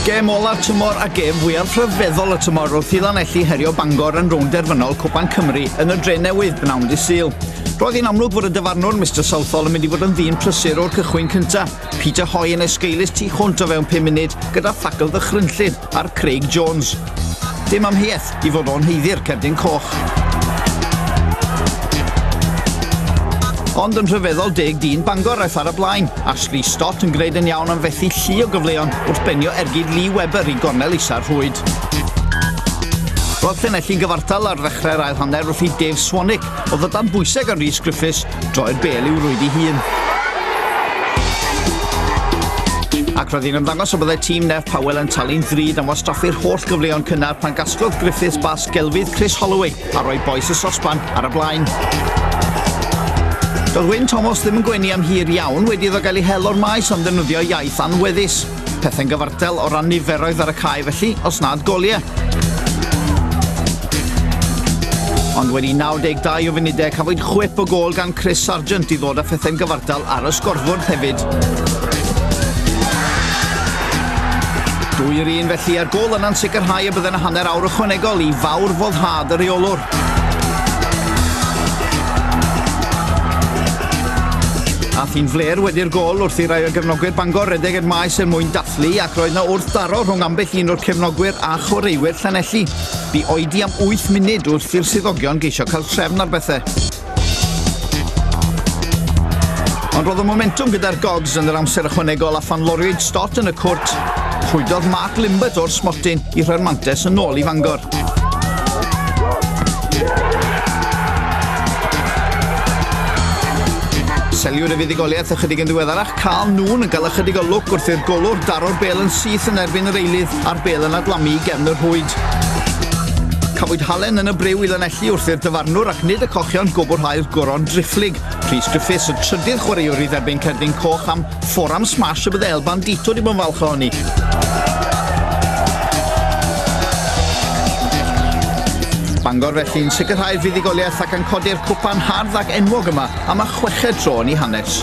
Gêm olaf tymor a gêm fwyaf rhyfeddol y tymor wrth i Lanelli herio Bangor yn rownd derfynol Cwpan Cymru yn y dre newydd bnawn di syl. Roedd hi'n amlwg fod y dyfarnwr Mr Southall yn mynd i fod yn ddyn prysur o'r cychwyn cyntaf. Peter Hoy yn esgeulus tu hwnt o fewn 5 munud gyda thacl ddychrynllyd ar Craig Jones. Dim amheuaeth i fod o'n heiddi'r cerdyn coch. Ond yn rhyfeddol deg dyn Bangor aeth ar y blaen. Ashley Stott yn gwneud yn iawn am fethu llu o gyfleon wrth benio ergyd Lee Webber i gornel isa'r rhwyd. Roedd Llanelli'n gyfartal ar ddechrau'r ail hanner wrth i Dave Swanick o ddydan bwysau gan Rhys Griffiths droi'r bel i'w rwyd ei hun. Ac roedd hi'n ymddangos o byddai tîm Neff Powell yn talu'n ddrud am wastraffu'r holl gyfleon cynnar pan gasglodd Griffiths bas gelfydd Chris Holloway a roi boes y sosban ar y blaen. Doedd Wyn Thomas ddim yn gwenu am hir iawn wedi iddo gael ei hel o'r maes am ddefnyddio iaith anweddus. Pethau'n gyfartal o ran niferoedd ar y cae felly, os nad goliau. Ond wedi 92 o funudau, cafwyd chwip o gol gan Chris Sargent i ddod â phethau'n gyfartal ar y sgorfwrdd hefyd. Dwy yr un felly a'r gol yna'n sicrhau y byddai'n hanner awr ychwanegol i fawr foddhad y reolwr. Ath hi'n fler wedi'r gol wrth i rai o gefnogwyr Bangor redeg i'r maes er mwyn dathlu ac roedd na wrth daro rhwng ambell un o'r cefnogwyr a chwaraewyr Llanelli. Bu oedi am 8 munud wrth i'r swyddogion geisio cael trefn ar bethau. Ond roedd y momentum gyda'r Gogs yn yr amser ychwanegol a phan loriwyd Stott yn y cwrt, rhwydodd Mark Limbert o'r smotyn i rhoi'r mantes yn ôl i Fangor. Seliwyd y fuddugoliaeth ychydig yn ddiweddarach, cael nhw'n yn cael ychydig o lwc wrth i'r golwr daro'r bel yn syth yn erbyn yr eilydd a'r bel yn adlamu i gefn yr hwyd. Cafwyd halen yn y brew i lanelli wrth i'r dyfarnwr ac nid y cochion gwbwrhau'r goron drifflig. Rhys Griffiths, y trydydd chwaraewr i dderbyn cerdyn coch am Forum Smash y bydde El Bandito wedi bod yn falch ohoni. Bangor felly'n sicrhau'r fuddugoliaeth ac yn codi'r cwpan hardd ac enwog yma am y chweched tro yn ei hanes.